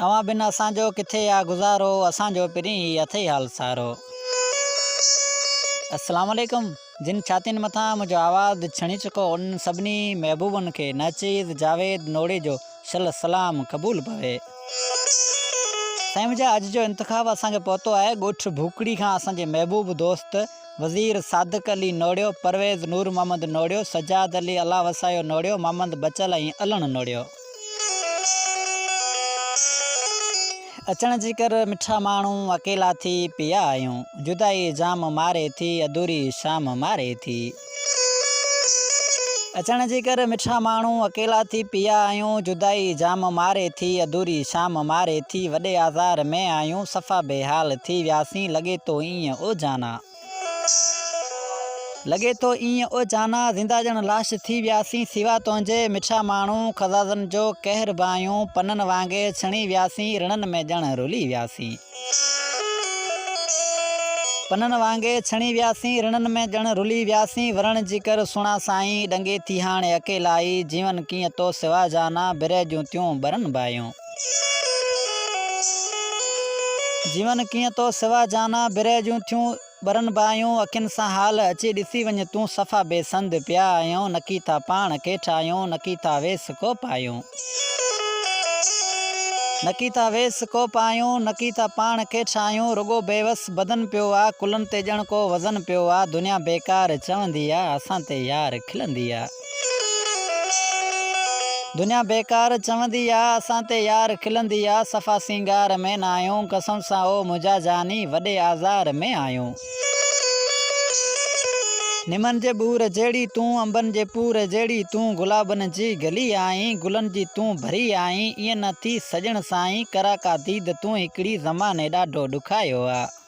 اوهان بن اسان جو ڪٿي آ گذارو اسان جو پرين هي اٿئي حال سارو السلام عليڪم جن ڇاتين مٿان منهنجو آواز ڇڻي چڪو ان سڀني محبوبن کي ناچيز جاويد نوڙي جو شل سلام قبول پوي سائين منهنجا اڄ جو انتخاب اسان کي پهتو آهي ڳوٺ ڀوڪڙي کان اسان جي محبوب دوست وزير صادق علي نوڙيو، پرويز نور محمد نوڙيو، سجاد علي الله وسايو نوڙيو، محمد بچل ۽ علڻ نوڙيو. اچڻ جي ڪر مٺا ماڻهو، اڪيلا ٿي پيا آهيون. جدائي جام ماري ٿي، اڌوري شام ماري ٿي. اچڻ جي ڪر مٺا ماڻهو، اڪيلا ٿي پيا آهيون. جدائي جام ماري ٿي، اڌوري شام ماري ٿي. وڏي آزار ۾ آهيون، صفا بي حال ٿي وياسين. لڳي ٿو ايئن. ايئن او جانا! لڳي ٿو ايئن او جانا! زنده ڄڻ لاش ٿي وياسين، سوا تنهنجي مٺا ماڻهو خزازن جو قهر باهيون پنن وانگي ڇڻي وياسين، رڻن ۾ ڄڻ رلي وياسين. پنن وانگي ڇڻي وياسين، رڻن ۾ ڄڻ رلي وياسين، ورڻ جي ڪر سهڻا سائين، ڏنگي ٿي هاڻي اڪيلائي، جيون ڪيئن تو سوا جانا، برهه جون تيون ٻرن باهيون. جيون ڪيئن تو سوا جانا، برهه جون ٿيون ٻرن باهيون، اکين سان حال اچي ڏسي وڃ تون، صفا بي سنڌ پيا آهيون، نڪي ٿا پاڻ ڪي ٺاهيون، نڪي ٿا ويس ڪو پاهيون. نڪي ٿا ويس ڪو پاهيون، نڪي ٿا پاڻ ڪي ٺاهيون، رڳو بيوس بدن پيو آ، ڪلهن تي ڄڻ ڪو وزن پيو آ، دنيا بيڪار چوندي آ، اسان تي يار کلندي آ. دنيا بيڪار چوندي آ، اسان تي يار کلندي آ، صفا سينگار ۾ ناهيون، قسم سان او منهنجا جاني، وڏي آزار ۾ آهيون. نمن جي ٻور جهڙي تون، انبن جي پور جهڙي تون، گلابن جي گلي آهين، گلن جي تون ڀري آهين، ائين نه ٿي سڄڻ سائين، ڪراڪا ديد تون هڪڙي، زماني ڏاڍو ڏکايو آ.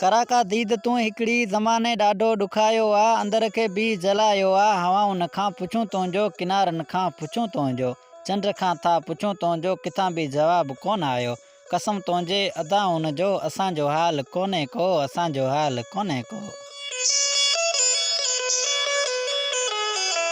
ڪراڪا ديد تون هڪڙي زماني ڏاڍو ڏکايو آ اندر کي بي جلايو آ هوائن کان پڇون تنهنجو ڪنارن کان پڇون تنهنجو چنڊ کان ٿا پڇون تنهنجو ڪٿان به جواب ڪونه آيو قسم تنهنجي ادائن جو اسان جو حال ڪونهي ڪو اسان جو حال ڪونهي ڪو.